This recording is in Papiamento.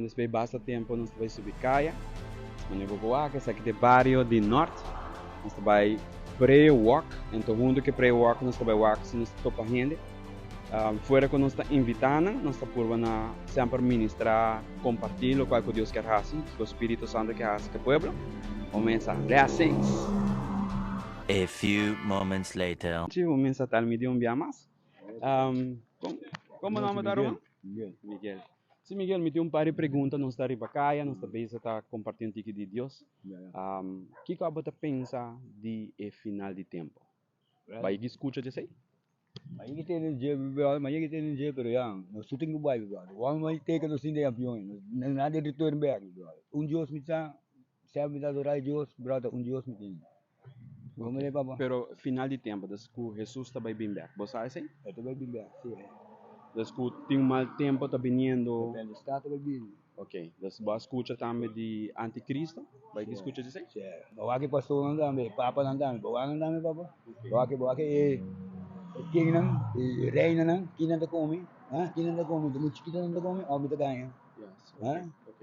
Despues basta tempo nos ta bai subi kaya. Mane bo bo aki esaki te bario di nort. Nos ta bai pray walk ento hunto ke pray walk nos ta bai wak si nos ta topa hende. Fuera ku nos ta invita nan nos ta purba na semper ministra komparti lokual ku Dios kier hasi ku spiritu santu kier hasi ku pueblo. Bo mesa blessings. A few moments later. Chi bo mesa tal mi di un bia mas. Kon bo nomber ta Roman? Miguel. Sí Miguel, mi tin un par di pregunta, nos ta riba kaya, nos ta beza ta kompartí un tiki di Dios. Kiko abo ta pensa di e final di tempu? Bai yeg'i skucha dj'esei? Bai yeg'i tene un dje, probablemente bai yeg'i tene un dje, pero ya nos tur tin ku bai probablemente. Wòrdu ku bai teka nos tin den avion ei, nos no na den return bèk probablemente. Un Dios mi sa, sèp mi ta adorá e Dios, probablemente ta un Dios mi tin. Pero final di tempu, des ku Hesus ta bai bin bèk, bo sa esei? E ta bai bin bèk, si. Des ku tin un mal tempu ta biniendo? Depende di stad ta bai bin. Ok, des bo a skucha tambe di antikristo? Bo a yegi skucha di esei? Si. Bo a wak e pastornan tambe, e papanan tambe, bo a wak nan tambe, papa? Bo a wak, bo a wak e kingnan, e reinanan, kinan ta komi? Ha? Kinan ta komi? Di mi chikitu nan ta komi òf mi ta gaña? Yes, ok, ok.